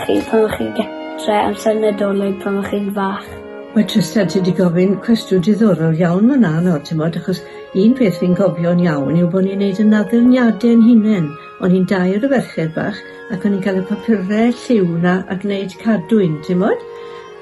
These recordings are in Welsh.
Chi pan o'ch chi'n gytre amser Nadolig pan o'ch chi'n fach? Mae Trystan ti 'di gofyn cwestiwn diddorol iawn fan 'na nawr t'mod achos un peth fi'n cofio'n iawn yw bo' ni'n neud 'yn addurniade 'yn hunen. O'n i'n dair o ferched bach ac o'n i'n ca'l y papure lliw 'na a gneud cadwyn t'mod?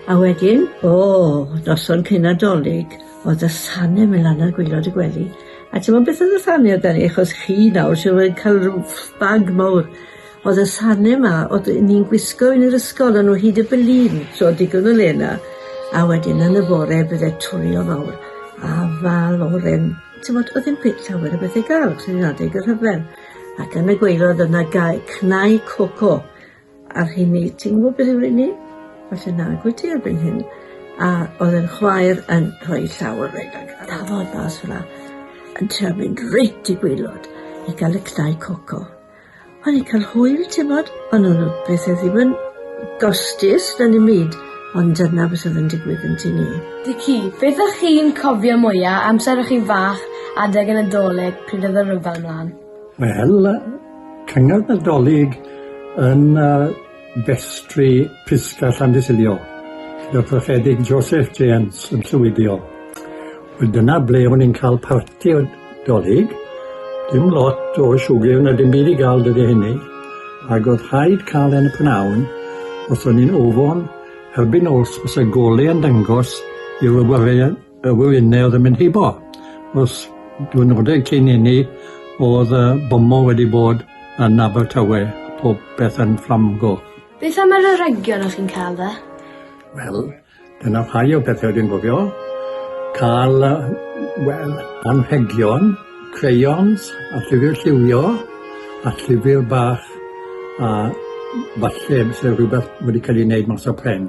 A wedyn o! Noson cyn Nadolig o'dd y sane myn' lan ar gwilod y gwely a t'mod beth o'dd y sane amdani achos chi nawr siŵr o fod yn ca'l ryw ff- bag mowr O'dd y sane 'ma o'dd yy ni'n gwisgo yn yr ysgol o'n nw hyd y bylin so digon o le 'na a wedyn yn y fore bydde twli o fawr afal oren t'mod o'dd ddim cweit llawer o bethe i ga'l os o'n i'n adeg y rhyfel ac yn y gwaelod yna gae cnau coco a'r rheini ti'n gwbo beth yw rheini? Falle nag wyt ti erbyn hyn a o'dd e'n chwaer yn rhoi llaw ar rain ag a dafod mas fela yn trio mynd reit i gwaelod i ga'l y cnau coco. O'n i'n cael hwyl, ti'n bod? O'n nhw'n beth oedd ddim yn gostus na ddim byd, ond dyna beth oedd yn digwydd yn tŷ ni. Dici, beth ych chi'n cofio mwya amser o'ch chi'n fach adeg y Nadolig pryd oedd y rhyfel mlan? Wel, cyngor Nadolig yn uh, Festri Prisca Llandisylio gyda Thrachedig Joseph James yn llwyddio. Wel dyna ble o'n i'n cael parti o dolyg. Dim lot o siwgr na dim byd i gael dydy hynny. Ac oedd rhaid cael e'n y pnawn os o'n i'n ofon erbyn nos fysa golau yn dangos i'r wywyrau Y wyfynnau oedd yn mynd heibo. Os diwrnodau cyn hynny oedd y bomo wedi bod yn Abertawe, pob peth yn fflamgoch. Beth am yr aregion o'ch chi'n cael dde? Wel, dyna rhai o bethau dwi'n gofio. Cael, wel, anrhegion, crayons, a llyfr lliwio, a llyfr bach, a falle byse rhywbeth wedi cael ei wneud mas o pren.